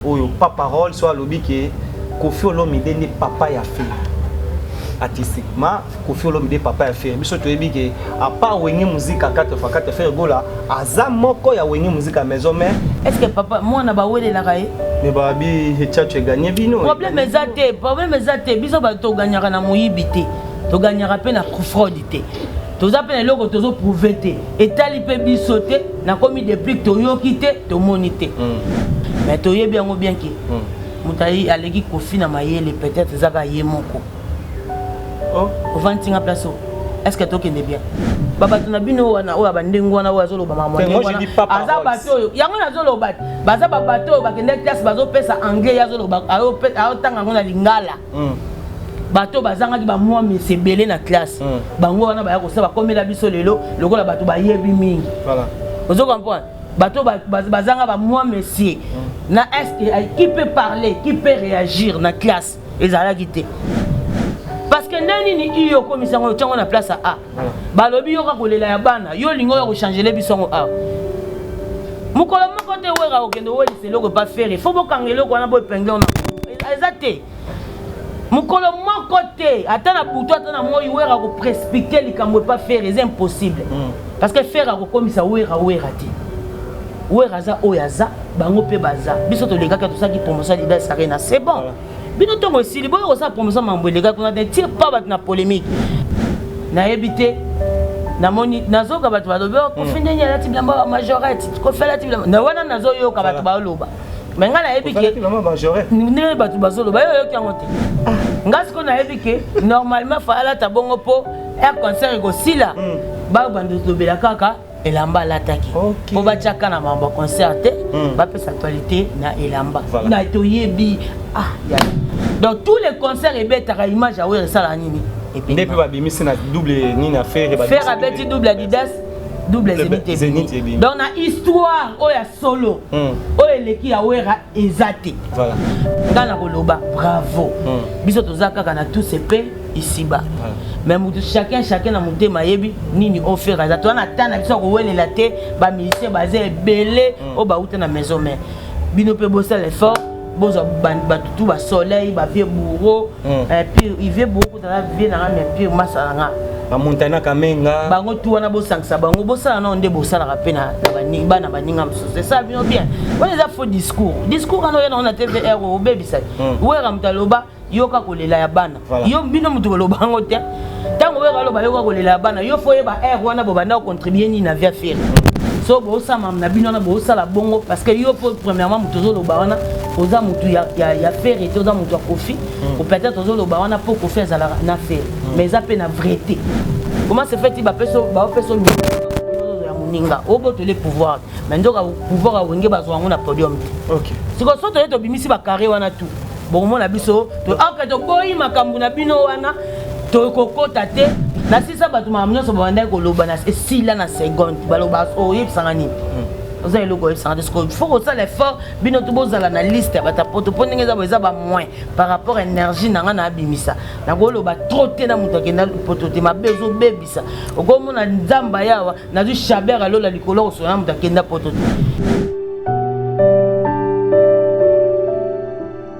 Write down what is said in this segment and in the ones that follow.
Oyo papa Roll so alobi ke Kofi Olomide nde papa ya Ferre. Artistiquement, Kofi Olomide papa ya Ferre. Biso toyebi ke à part Wenge Musique à 4 fois 4 Ferre Gola aza moko ya Wenge Musique à maison mais est-ce que papa moi na ba wele la kaye? Mais ba bi hechacho e gagner bino. Problème eza te, problème eza te. Biso ba to gagnaka na moyibi te. To gagnaka pe na fraude te. toza mpe na eloko tozo prouve te etali mpe biso te nakomi deplique toyoki te tomoni te mm. mais toyebi yango bien ke mm. moto aleki kofi na mayele peut-être ezaka ye moko oh. ovandi ntinga place oyo est ce que tokende bien babato na bino wana oyo bandenge wana oyo azolobama aza bato oyo yango nazoloba baza babato oyo bakendaki classe bazopesa anglais ye azoloba ayotanga yango na lingala mm. bato bazangaki bamwa misi ebele na classe mm. bango wana baya kosala bakomela biso lelo lokola bato bayebi mingi voilà. ozo comprendre bato bazanga bamwa mesi mm. na est qui peut parler qui peut réagir na classe ezalaki te parce que nde nini iyo okomisa yango otyango na place ya a balobi yoka kolela ya bana yo olingi oya kochangele biso yango awa mokolo moko te wera okende owelisa eloko epa fere fo bokanga eloko wana boepingle ona eza te mokolo moko te ata na butu ata na moi wera akoprespecte likambo epa fere eza impossible mm. parce que fere akokomisa wera wera te wera aza oyo aza bango mpe baza biso tolekaki tosalaki promotion ya lidas arena c'est bon voilà. bino ntongo esili boya kosala promotion mambo eleka kuna te tire pas bato na polémique nayebi te namoni nazoyoka bato balobi oh, kofi hmm. ndenge alati bilamba ya majorette kofi alati bilamba na wana nazoyoka bato baoloba me ngai nayebi ke ndenge bato bazoloba yo oyoki yango te ah. ngai sikoyo nayebi ke normalement fa alata bongo mpo air concert ekosila hmm. bayo bandolobela kaka elamba alataki okay. po batiaka na mambo concert te mm. bapesa actualité na elamba voilà. na toyebi ah, ya. donc tous les concerts ebetaka image awere esala nini nde mpe babimisi na double nini ya fere fere abeti double adidas double zenith ebimi donc na histoire oyo ya solo hmm. oyo eleki ya wera eza te voilà. ngai nakoloba bravo mm. biso toza kaka na tous epe isiba voilà. mais motu chacun chacun na motema ayebi nini ofere aza toza na ta na biso ya kowelela te bamilisien baza ebele mm. oyo bauta na maison mare bino mpe bosala effort bozwa bato tu basoleil bavie bouro mm. eh, puis ivie bouro tala vie na nga mais pire masala nga ba montana kamenga bango tu wana bosangisa bango bosala nao nde bosalaka mpe na bana baninga mosusu esala bino bien wana eza faux discours discours wana oya nango na tvr obebisaki hmm. wera moto aloba yoka kolela ya bana yo bino moto koloba yango te ntango wera aloba yoka kolela ya bana yo fo oyeba r wana bobanda kocontribue nini na via fere so bosala na bino wana bosala bongo parce que yo mpo premièrement moto ozoloba wana oza motu ya, ya, ya ferre te oza motu ya kofi mm. au peut-être ozo loba wana po kofi azalaka na fer mm. mais eza pe na vraieté comment se fait-il bapeso bapeso ya moninga obotole pouvoir mais nzoka pouvoir ya wenge bazwa yango na podium te sikoyo so toye tobimisi bacarré wana tout bokomona biso aka toboyi makambo na bino wana tokokota te na sisa bato makambo nyonso babandaki koloba na esila na seconde baloba oyebisanga nini hmm. oza eloko oyebisanga te sikoyo fo kosala effort bino tu bozala na liste ya bata poto mpo ndenge eza eza ba moins par rapport à énergie na ngai naabimisa nakoloba trop te na moto akenda poto te mabe ozobebisa okomona nzambe ayawa nazwi chabert alola likolo kosona na moto akenda poto te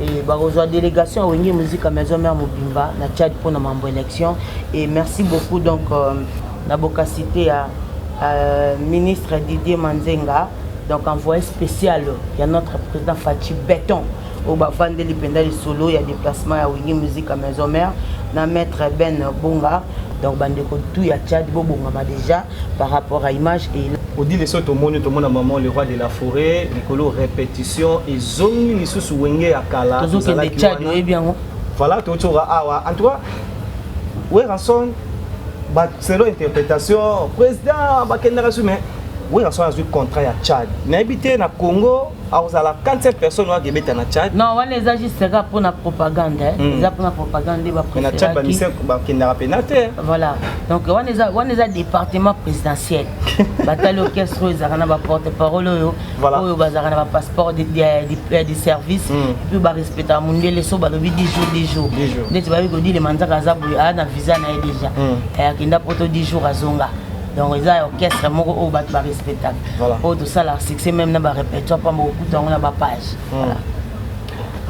Et bakozwa délégation ya wenge musique ya maison mère mobimba na tchad mpo na mambo élection et merci beaucoup donc euh, na bokasite ya euh, ministre didier manzenga donc envoyé spécial ya notre président fachi béton oyo bafandeli mpenza lisolo ya déplacement ya wenge musique ya maison mère na maître ben bonga donc bandeko tout ya tchad bobongama déjà par rapport à image et Odile so tomoni tomona maman le roi de la forêt likolo répétition ezongi lisusu wenge ya kala tozokende tchad oyebi yango voilà tocoka awa en tout cas weranson selon interprétation président bakendaka su mais weranson azwi contrat ya tchad nayebi te na congo akozala 47 personnes oyo akebeta na tchad non wana eza juste kaka mpo na propagande hmm. eza mpo na propagande na tchad bamise bakendaka mpena te voilà donc wana eza wana eza département présidentiel batali orchestre oyo ezalaka na baporte parole oyo oyo bazalaka na bapasseport du service hmm. puis barespectaka mondele so balobi 10 jours 10 jours ndeti bayebi kodile manzaka aza boye aa na visa na ye déjà hmm. eh, akenda poto 10 jours azonga donc eza orchestre moko oyo bato barespectaka oyo tosalaka succès meme na barépertoire mpamba okuta yango na bapage hmm.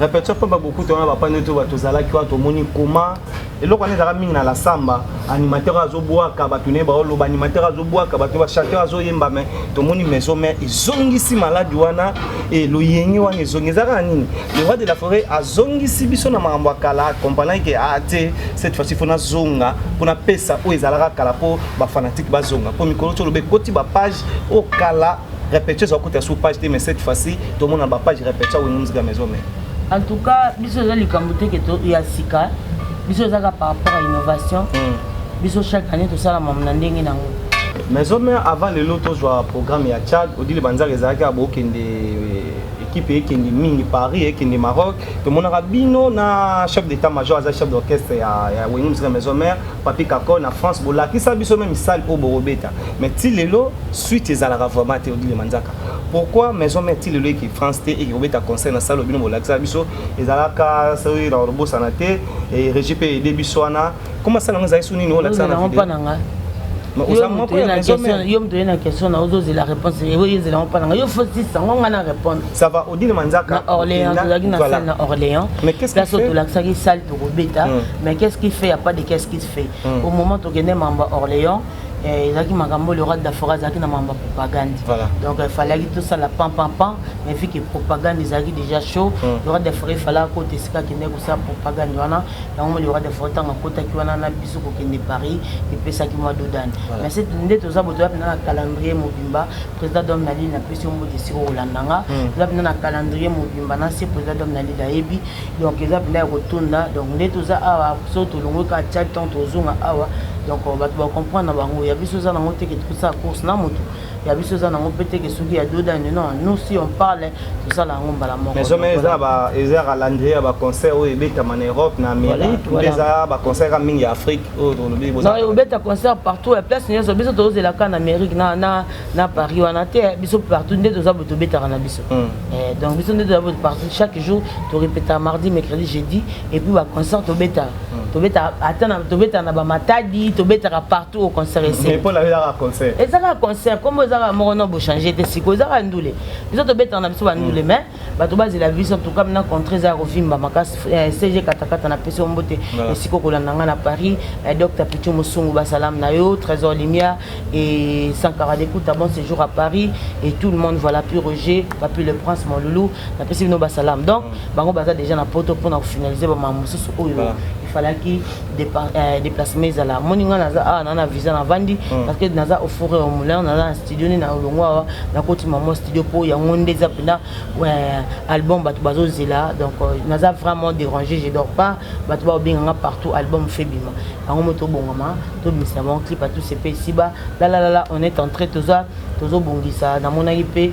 répertoire mpamba bokuta wana bapage nde to bato ozalaki wana tomoni koma eloko wana ezalaka mingi na la samba animateur azobwaka bato naye baoloba animateur azobwaka bato bachanteur azoyemba mai tomoni maison mai ezongisi maladi wana e loyenge wana ezongi eza kaka nini le roi de la forêt azongisi biso na makambo ya kala akompanaki ke a ah, te cette fois-ci fona zonga mpona pesa oyo ezalaka kala mpo ba fanatique bazonga mpo mikolo ti oloba ekoti ba page oyo kala repetio ezala kota sur page te mais cette fois-ci tomona ba page repetio awini muzika maison mare en tout cas biso eza likambo te ke ya sika biso ezaka par rapport à innovation hmm. biso chaque année tosala mamu na ndenge na yango maison mare avant lelo tozwa programme ya tchad odile banzaka ezalaki ya bokende eh, équipe ekende mingi paris ekende maroc tomonaka bino na chef d'état major aza chef d'orchestre ya, ya wenge mosika maison mare Papi Kakol na France bolakisa biso meme salle oyo bokobeta mais ti lelo suite ezalaka vraiment te odile manzaka pourquoi maison mère ti lelo eke France te eke kobeta concert na salle obino bolakisa biso ezalaka soki na kobosana te e regi mpe ede biso wana koma sala yango ezali so nini olakisa na video yo moto oye na question na ozozela réponse ezelango mpa na ngai yo fotisa ngo ngai na répondre Ça va, Odile Manzaka. Na Orléans, tozalaki na salle na Orléans. Mais qu'est-ce qu'il fait? Place tolakisaki salle tokobeta. Hmm. Mais qu'est-ce qu'il fait? Il n'y a pas de qu'est-ce qu'il fait. Hmm. Au moment tokende mamba Orléans, eh, ezalaki makambo le roi de la forêt azalaki na mamba propagande voilà. donc il fallait que tout ça la pan pan pan mais vu que propagande ezalaki déjà chaud mm. le roi de la forêt fallait ko tesika kende ko sa propagande wana yango le roi de la forêt tanga kota ki wana na biso ko kende Paris et pesa ki moi dodane voilà. mais c'est nde toza boto ya na calendrier mobimba président d'homme na lili napesi yo mbote esika okolanda nga hmm. eza mpenza na calendrier mobimba na se président d'homme na lili ayebi donc eza mpenza ya kotonda donc nde toza awa so tolongwe ka tia temps tozonga awa donc euh, bato bacomprendre na bango ya biso eza nango teke tokosala course na moto ya biso eza nango mpe teke soki ya dodani non nous si on parle tosala yango mbala mokoeza calendrier ya baconcert oyo ebetama na europe na amérique eza baconcert ya mingi ya afrique obeta concert partout ya place nyonso biso tozozela kaka na amérique na paris wana te biso partout nde toza boye tobetaka na biso hmm. eh, donc biso nde toza boye partout chaque jour torepeta mardi mercredi jeudi et puis baconcert tobetaka hmm. tobeta ata tobetaka na bamatadi tobetaka partout au concert eseezaka concert kombo ezaka moko no bochange te siko ezaka ndule biso tobetaka na biso bandule hmm. mais bato bazela vision toukam na contre eza ya kovimba makasi eh, cg katakata na pesi ombote esika okolanda ngai na paris eh, dr pichu mosungu basalam na yo trésor limia et sankara dekuta bon séjour à paris et tout le monde voilà pu roger papi le prince mon loulou napesi bino basalam donc bango baza déjà na poto mpona kofinalize bamama mosusu oyo ifalaki Euh, déplacement ezala moni ngai naza awa ah, naa na visa navandi hmm. parce que naza au four au moulin naza na studio nde na olongo awa nakotima mwa studio mpo yango nde eza mpenza album bato bazozela donc euh, naza vraiment dérangé je dors pas bato baobenga nga partout album fe bima yango mo tobongama tobimisa bango clip atusepesiba lalalala on est entré toza tozobongisa namonaki mpe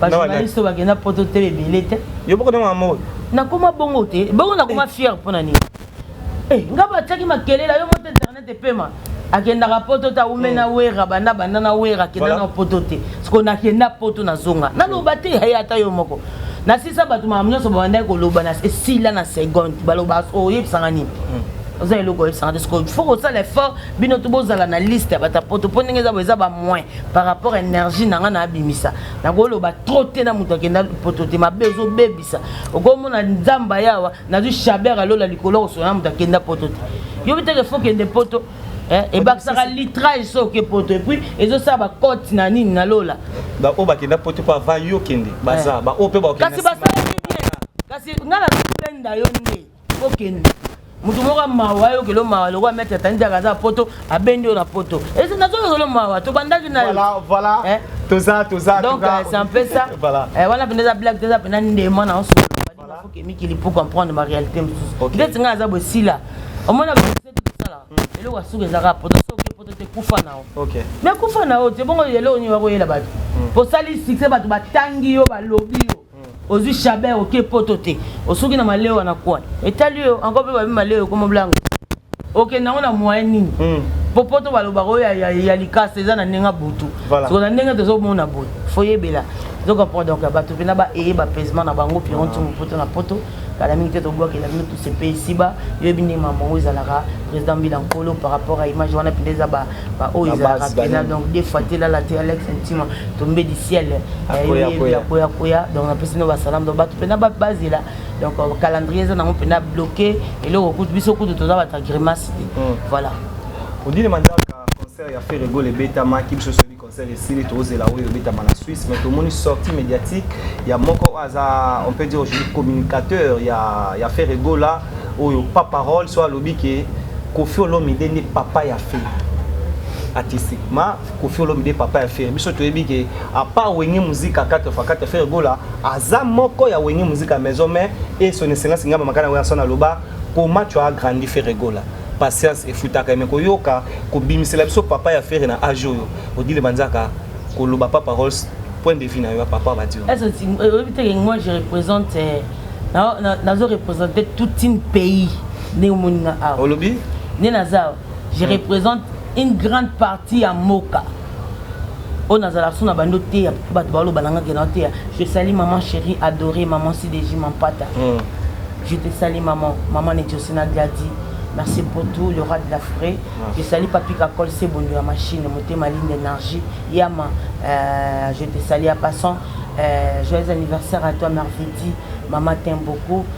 bajournaliste oyo bakenda poto te ebele te yo boko ndenge yango nakoma bongo te bongo nakoma eh. fiere mpo na nini eh, nga batiaki makelele yo moto internet epema akendaka poto te aume na hmm. wera banda banda na wera akenda na poto te soko nakenda poto nazonga naloba te yaye ata yo moko nasisa bato makambo nyonso babandaki koloba na esila na seconde baloba oyebisanga nini hmm. oza eloko oyebisaka te sikoyo fo kosala effort bino to bozala na liste ya batapoto mpo ndenge eza boye eza bamoin par rapport à énergie na nga na abimisa na ko loba trop te na mutu akenda poto te mabe ozo bebisa oko mona nzamba yawa na du chabert alola likolo ko sona mutu akenda poto te yo biteke faut kende poto Eh, ebakisaka litrage soki poto epuis ezosala bacote na nini na lola baoyo bakenda poto mpo ava yo kende baza eh. baoyo mpe bakokasi basalaki bien kasi ngai nazopenda yo nde okende moto moko mawa ayokelo mawa lokola maitre atani diaka aza poto abendi yo na poto esi nazoyokelo mawa tobandaki na yo eh? toza toza donc c'est un peu ça eh, wana mpenza eza blague te eza mpenza ndema na oso foke mikili pour comprendre ma réalité mosusu ndeti ngai aza bosila omona bosala eloko ya suka ezaka poto soki poto te kufa na yo mais kufa na yo te bongo eloko nini wakoyela bato osali succès bato batangi yo balobi yo Ozui chabert oke poto te osuki na malewa na coin etali yo encore pe babi malewa ekoma blango okende yango na moyen nini hmm. po poto balobaka oyo ya likasa eza na ndenge ya butu soko na ndenge tozomona boye foyebela zoka po donc bato mpena baeye bapaisement na bango pironti mopoto na poto kala mingi te tobwakela bino tout se paye ici bas yo yebi ndenge makambo yango ezalaka président mbila nkolo par rapport à image wana mpenza eza baoyo ezalaka mpenza donc des fois te lala te alex ntima tombe du ciel yakoya koya koya donc napesi no basalam donc bato mpenza bazela donc euh, calendrier eza nango mpenza bloqué eloko kutu biso kutu toza bata grimace te hmm. voilà odile manzaka concert ya ferre gol ebetamaki biso Concert esili tozela oyo ebetama na Suisse mais tomoni sortie mediatique ya moko oyo aza on peut dire aujourd'hui communicateur ya ya Ferre Gola oyo pas parole soit alobi que Koffi Olomide nde papa ya Ferre artistiquement Koffi Olomide papa ya Ferre biso toyebi que à part Wenge Musica 4 fois 4 Ferre Gola aza moko ya Wenge Musica maison mais et son excellence ngamba makana wena sona loba comment tu as grandi Ferre Gola Patience efutaka mais koyoka kobimisela biso papa ya Ferre na age oyo odile manzaka koloba pas paroles point de vue na yo papa badi oyo. Est-ce que euh, oyebi te que moi je représente euh, nazo représenter toute une pays nde omoni nga awa. Olobi? Nde naza awa. Je hmm. représente une grande partie ya moka. oyo nazala sous na bandi oteya bato baloba na nga ke naoteya je sali maman chérie adoré maman sideji mampata mm. je te sali maman maman netiosina gladi merci pour tout le roi de la forêt je sali papi kakol sebondo ya machine motema ligne d'énergie yama euh, je te sali ya passant euh, joyeux anniversaire à toi mervedi maman t'aime beaucoup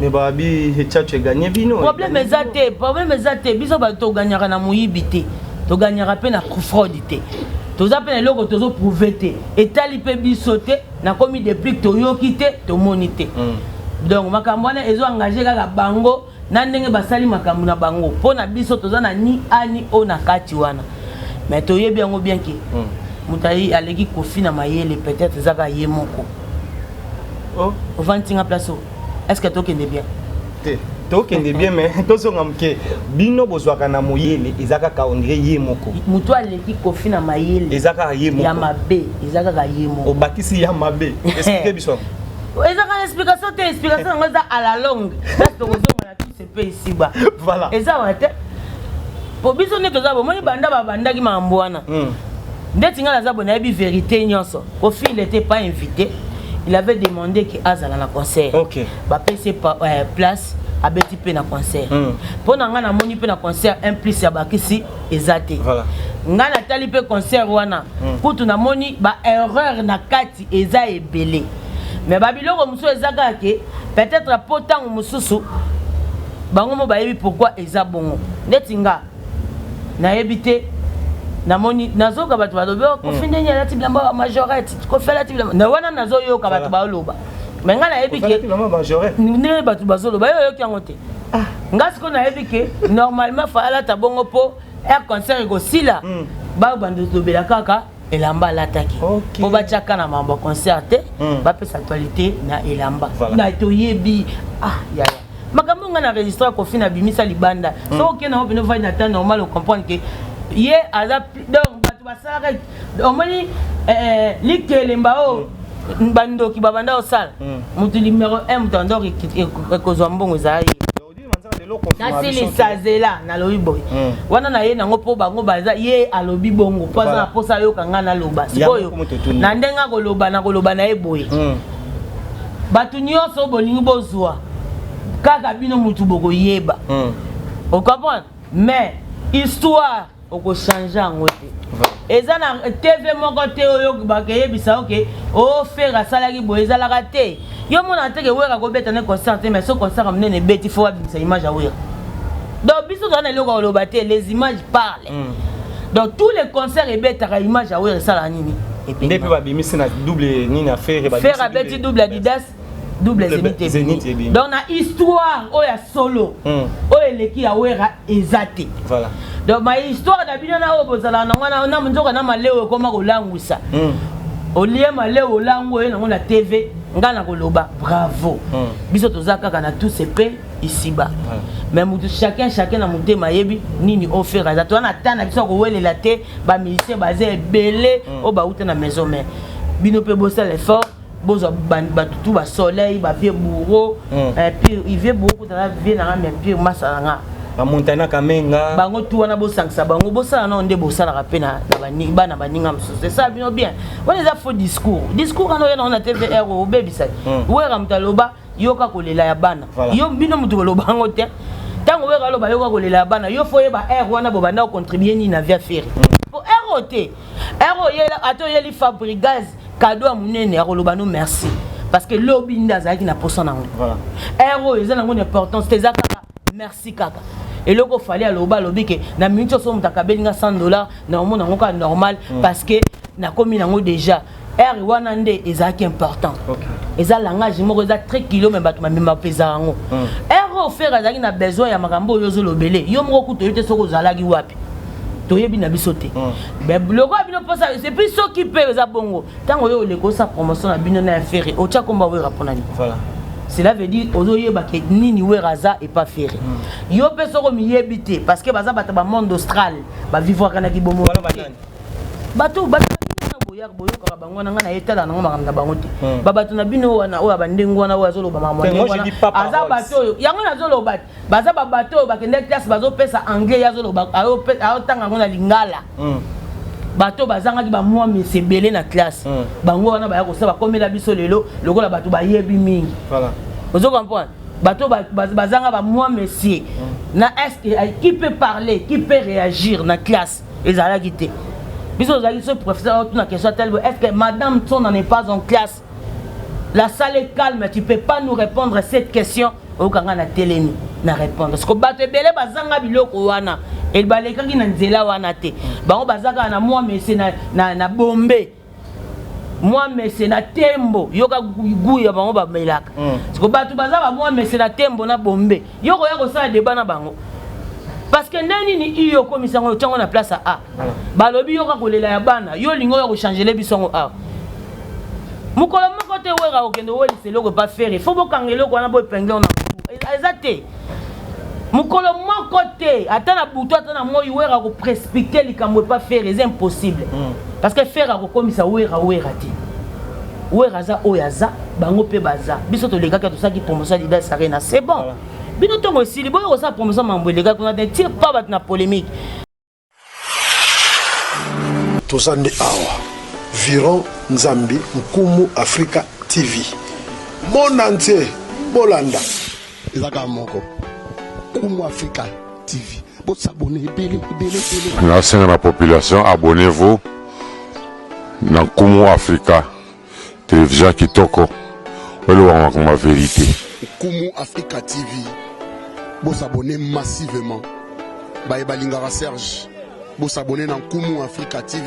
mais babi hechacho eganye bino problème eza te problème eza te biso bato toganyaka na moyibi te toganyaka mpe na fraude te toza mpe na eloko tozoprouve te etali mpe biso te nakomi deplique toyoki te tomoni te mm. donc makambo wana ezo engage kaka bango na ndenge basali makambo na bango mpo na biso toza na ni a ni o na kati wana mais toyebi yango bien ke mm. moto aleki kofi na mayele peut-être ezaka ye moko oh. ovandi ntinga place oyo est ce que tokende bien te tokende bien mais tozonga moke bino bozwaka na moyele eza kaka ondire ye moko motu aleki kofi na mayele eza kaka ye moko ya mabe eza kaka ye moko obakisi ya mabe esplike biso eza kaka explication te explication yango eza à la longue place tokozonga na tout se mpe esiba voilà eza wa te mpo biso nde toza bomoni banda babandaki makambo wana hmm. ndeti ngai naza boye nayebi verité nyonso kofile te pas invité il avait demandé ke azala na concert okay. bapesi euh, place abeti mpe na concert hmm. mpo na ngai namoni mpe na concert un plus ya bakisi eza te voilà. ngai natali mpe concert wana hmm. kutu namoni baerreur na kati eza ebele mais ba biloko mosusu eza kaka ke peut-être mpo ntango mosusu bango mo bayebi pourquoi eza bongo neti nga nayebi te namoni nazoyoka bato balobi oh, kofi hmm. ndenge alati bilamba ba majorette kofi alati bilamba na wana nazoyoka bato baoloba me ngai nayebi ke ndenge bato bazoloba yo oyoki yango te ah. ngai sikoyo nayebi ke normalement fa alata bongo mpo air concert ekosila hmm. babanda olobela kaka elamba alataki okay. po batiaka na mambo concert te mm. bapesa actualité na elamba voilà. na toyebi ah yaya makambo ngai na registre kofi na bimisa libanda mm. so okenda ngo pene ovandi na temps normal ocomprendre ke ye aza donc bato basalaka omoni eh, eh, likelemba oyo oh, mm. bandoki babanda osala moto mm. numero 1 moto anda ekozwa mbongo ezala ye nasilisa zela nalobi boye hmm. wana na ye nango mpo bango baza ye alobi bongo mpo aza na mposa ayoka ngai naloba sikoyo na ndenge akoloba nakoloba na ye boye hmm. bato nyonso bolingi bozwa kaka bino motu bokoyeba hmm. ocomprendre mais histoire oko change yango te eza na tv moko te oyo bakeyebisa yo ke o oh, fere asalaki boye ezalaka te yo omona te ke wera akobeta ne concert te mais so concert ya monene ebeti fo abimisa image ya wera donc biso toza na eloko ya koloba te les images parle mm. donc tous les concerts ebetaka image ya wera esalaka nini nde mpe babimisi na double nini ya fere fere abeti double adidas double zenith ebimi donc na histoire oyo ya solo hmm. oyo eleki ya wera eza te voilà donc ma histoire na bino na oyo bozalaka na wana na nzoka na maleo ekoma kolangwisa hmm. olie maleo olango oye nango na tv ngai nakoloba bravo hmm. biso toza kaka na tous epe isiba mais motu chacun chacun na motema ayebi nini ofere aza toza na ta na biso ya kowelela te bamusicien baza ebele oyo bauta na maison mare bino mpe bosala effort bozwa bato tu ba soleil ba vieux bourreau mm. eh, pire vieux bourreau kotala vieux na nga mais pire masa na nga bamontana kamenga bango tu wana bosangisa bango bosala nao nde bosalaka mpe na bana baninga mosusu esala bino bien wana eza faux discours discours wana oya nango na tvr obebisaki hmm. wera moto aloba yoka kolela ya bana yo bino moto koloba yango te ntango wera aloba yoka kolela ya bana yo fo oyeba r wana bobanda kocontribue nini na via feri mpo hmm. r oyo te Ero oyela ato yeli Fabrigaz cadeau ya munene akoloba no merci parce que lobi nda azalaki na posa nango. Voilà. Ero eza nango importance te eza kaka merci kaka. eloko fali aloba alobi ke na minute oso moto akabeli nga 100 dollar na omona yango kaka normal mm. parce que nakomi nango déjà heure wana nde ezalaki important okay. eza langage moko eza très kilo me bato bamema mpeza yango mm. heure oyo fere azalaki na besoin ya makambo oyo ozolobele yo moko kutu oyo te soki ozalaki wapi toyebi na biso te mm. lokola bino mposa epuis soki mpe eza bongo ntango yo oleka osa promotion na bino na ya fere otya komba wera mpo na nini cela veut dire ozoyeba ke nini wera aza epa fere mm. yo mpe soki omiyebi te parce que baza bato ba monde austral bavivwaka na kibomo bato bato boyaka boyokaka bango wana ngai nayetala nango makambo na bango te hmm. babato na bino wana oyo abandenge wana oyo azoloba makambo aza bato oyo yango nazoloba te baza babato oyo bakendaki klase bazopesa anglais ye azoloba ayotanga yango na lingala hmm. bato bazangaki bamwa misi ebele na klase hmm. bango wana baya kosala bakomela biso lelo lokola bato bayebi mingi ozo comprendre bato bazanga bamwa mesie na est qui peut parler qui peut réagir na classe ezalaki te biso ozalaki so professeur otuna question ya talbo est ce que madame tsona n'est pas en classe la salle est calme tu peux pas nous répondre cette question oyoka ngai na telemi na répondre siko bato ebele bazanga biloko wana balekaki na nzela wana te bango baza kaka na mwa mese na, na, na bombe mwa mese na tembo yoka gu ya bango bamelaka mm. siko bato baza bamwa mese na tembo na bombe yo koya kosala deba na bango parce que nde nini iyo okomisa yango otyango na place ya a mm. balobi yoka kolela ya bana yo olingi oya kochangele biso yango awa mokolo moko te wera okende owelisa eloko epa fere fo bokanga eloko wana boepingle na eza te mokolo moko te ata na butu ata na moi wera akoprespecte likambo epa fere eza impossible mm. parce que fere akokomisa wera wera te wera aza oyo aza bango mpe baza biso tolekaki tosalaki promotion ya lidas arena c'est bon voilà. bino ntongo esili boya kosala promotion mambo elekaki kuna te tire pas bato na polémique toza nde awa viron nzambi nkumu afrika tv monde entier bolanda eza kaka moko nkumu afrika tv bosabone ebele ebele ebele nasenga na population abonnez-vous na nkumu afrika Television kitoko oloba makambo ya verite. Nkumu Africa TV bo s'abonner massivement baye balingaka Serge bo s'abonner na Nkumu Africa TV.